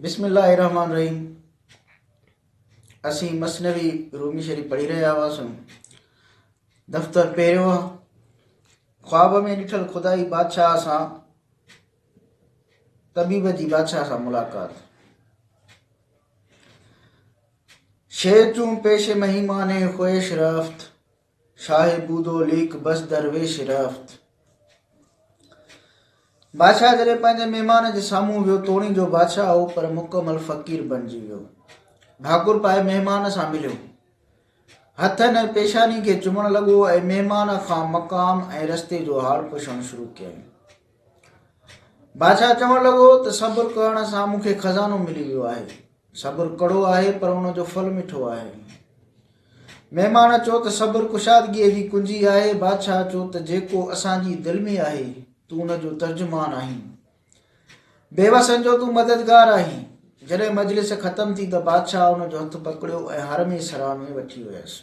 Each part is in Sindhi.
بسم الله الرحمٰن الرحيم اسين مثنوي رومي شريف پڙهي رهيا هئاسون دفتر پهريو خواب ۾ ڏٺل خدائي بادشاهه سان طبيب جي بادشاهه سان ملاقات شير چون پيش مهيمانه خويش رفت شاهه بودو ليک بس درويش رفت. بادشاهه جڏهن پنهنجي مهمان جي سامهون ويو توڻي جو بادشاهه هو پر مڪمل فقير بنجي ويو ڀاڪر پائي مهمان سان مليو هٿن ۽ پيشاني کي چمڻ لڳو ۽ مهمان کان مقام ۽ رستي جو حال پڇڻ شروع ڪيائين بادشاهه چوڻ لڳو ته صبر ڪرڻ سان مون کي خزانو ملي ويو آهي صبر ڪڙو آهي پر ان جو ڦل مٺو آهي. مهمان چو ته صبر ڪشادگيء جي ڪنجي آهي. بادشاهه چو ته جيڪو اسان جي دل ۾ آهي، تون ان جو ترجمان آهين. بيوسن جو تون مددگار آهين. جڏهن مجلس ختم ٿي ته بادشاهه ان جو هٿ پڪڙيو ۽ حرم سرا ۾ وٺي ويس.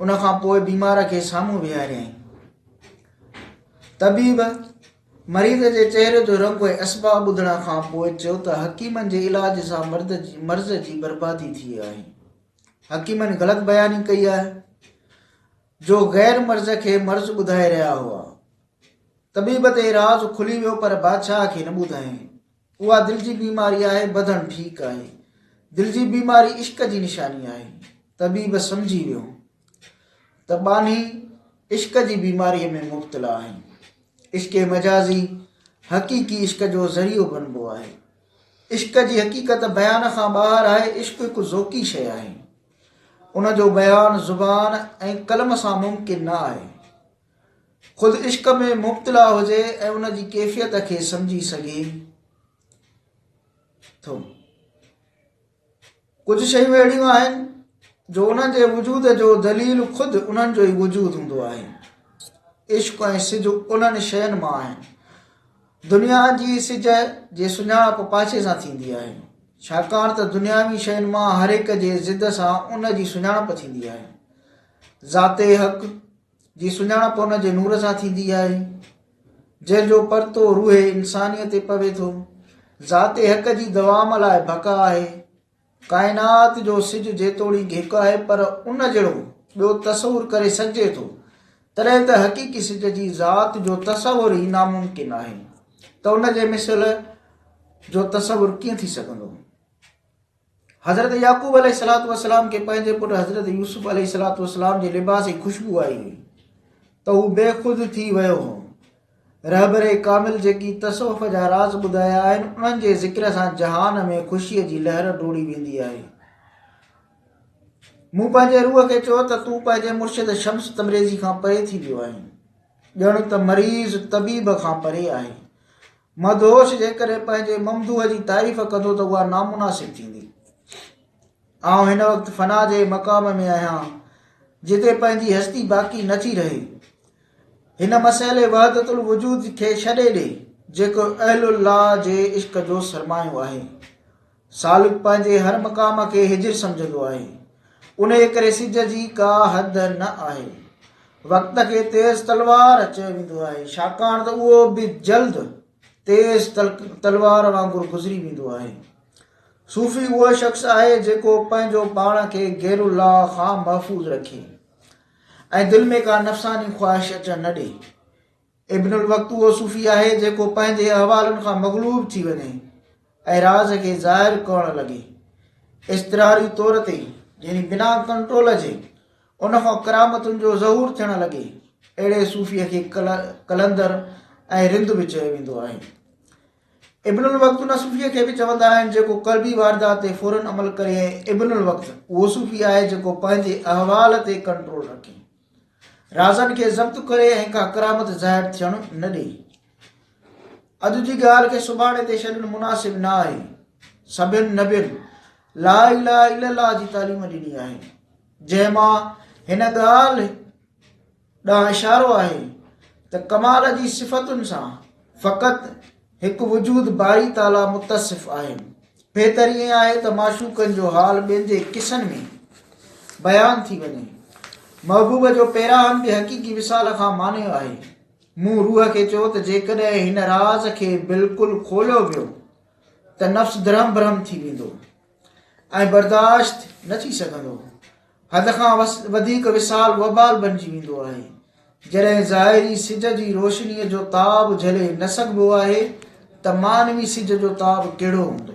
ان کان پوء بيمار کي سامهون ويهاريائين. طبيب مريض جي چهري جو رنگ ۽ اسباب ٻڌڻ کان پوء چيو ته حڪيمن جي علاج سان مرد جي مرض جي بربادي ٿي آهي. حڪيمن غلط بياني ڪئي آهي جو غير مرض کي مرض ٻڌائي رهيا هئا. طبيب تي راز کلي ويو پر بادشاهه کي نه ٻڌايائين. اها دل جي بيماري آهي ٻڌڻ ٺيڪ آهي دل جي بيماري عشق جي نشاني آهي طبيب سمجهي ويو ته ٻانهي عشق جي بيماري ۾ مبتلا آهن عشق مجازي حقيقي عشق جو ذريعو بنبو آهي عشق جي حقيقت بيان کان ٻاهر آهي عشق هڪ ذوقي شيء آهي ان جو بيان زبان ۽ قلم سان ممڪن نه آهي خود عشق ۾ مبتلا هجي ۽ ان جي ڪيفيت کي سمجهي سگهي ٿو ڪجهه شيون اهڙيون آهن جو انهن جي وجود جو دليل خود انهن جو ئي وجود هوندو آهي عشق ۽ سج انهن شين مان آهن دنيا جي سج جي سڃاڻپ پاڇي سان ٿيندي آهي ڇاڪاڻ ته دنياوي شين مان هر هڪ جي ضد سان ان جي سڃاڻپ ٿيندي آهي ذات حق جي سڃاڻپ ان جي نور سان ٿيندي آهي، جنهن جو پرتو روح انسانيء تي پوي ٿو. ذات حق جي دوام لاء ڀڪ آهي. ڪائنات جو سج جيتوڻيڪ هڪ آهي، پر ان جهڙو ٻيو تصور ڪري سگهجي ٿو، تڏهن ته حقيقي سج جي ذات جو تصور ئي ناممڪن آهي ته ان جي مثل جو تصور ڪيئن ٿي سگهندو؟ حضرت يعقوب عليه السلام کي پنهنجي پٽ حضرت يوسف عليه السلام جي لباس جي خوشبو آئي هئي ته هو بي خود ٿي ويو هو رهبر ڪامل جيڪي تصوف جا راز ٻڌايا آهن انهن جي ذڪر سان جهان ۾ خوشي جي لهر ڊوڙي ويندي آهي مون پنهنجي روح کي چيو ته تون پنهنجي مرشد شمس تبريزي کان پري ٿي ويو آهين ڄڻ ته مريض طبيب کان پري آهي مدهوش جيڪڏهن پنهنجي ممدوح جي تعريف ڪندو ته اها نامناسب ٿيندي. آئون هن وقت فنا جي مقام ۾ آهيان، جتي پنهنجي هستي باقي نه ٿي رهي. هن مسئلي وحدت الوجود کي ڇڏي ڏي، جيڪو اهل الله جي عشق جو سرمايو آهي. سالڪ پنهنجي هر مقام کي هجر سمجهندو آهي، انهيء ڪري سج جي ڪا حد نه آهي. وقت کي تيز تلوار چيو ويندو آهي، ڇاڪاڻ ته اهو به جلد تيز تلوار وانگر گذري ويندو آهي. صوفي اهو شخص آهي، جيڪو پنهنجو پاڻ کي غير الله کان محفوظ رکي ۽ دل ۾ ڪا نفساني خواهش اچڻ نه ڏئي. ابن الوقت اهو صوفي آهي جيڪو پنهنجي احوالن کان مغلوب ٿي وڃي ۽ راز کي ظاهر ڪرڻ لڳي اضطراري طور تي يعني بنا ڪنٽرول جي ان کان ڪرامتن جو ظهور ٿيڻ لڳي اهڙي صوفي کي قلندر ۽ رند به چيو ويندو آهي ابن الوقت ان صوفي کي به چوندا آهن جيڪو قلبي واردات تي فورن عمل ڪري ابن الوقت اهو صوفي آهي جيڪو پنهنجي احوال تي ڪنٽرول رکي رازن کي ضبط ڪري ۽ ڪا ڪرامت ظاهر ٿيڻ نه ڏئي. اڄ جي ڳالهه کي سڀاڻي تي ڇڏڻ مناسب نه آهي. سڀين نبين لا اله الا الله جي تعليم ڏني آهي، جنهن مان هن ڳالهه ڏانهن اشارو آهي ته ڪمال جي صفتن سان فقط هڪ وجود باري تعاليٰ متصف آهي. بهتر ائين آهي ته معشوقن جو حال ٻين جي قصن ۾ بيان ٿي وڃي. محبوب جو پيراهن به حقيقي وصال کان مانيو آهي. مون روح کي چيو ته جيڪڏهن هن راز کي بلڪل کوليو ويو ته نفس درهم برهم ٿي ويندو. ۽ برداشت نه ٿي سگهندو. حد کان وڌيڪ وصال وبال بنجي ويندو آهي. جڏهن ظاهري سج جي روشنيء جو تاب جهلي نه سگهبو آهي ته معنوي سج جو تاب ڪهڙو هوندو؟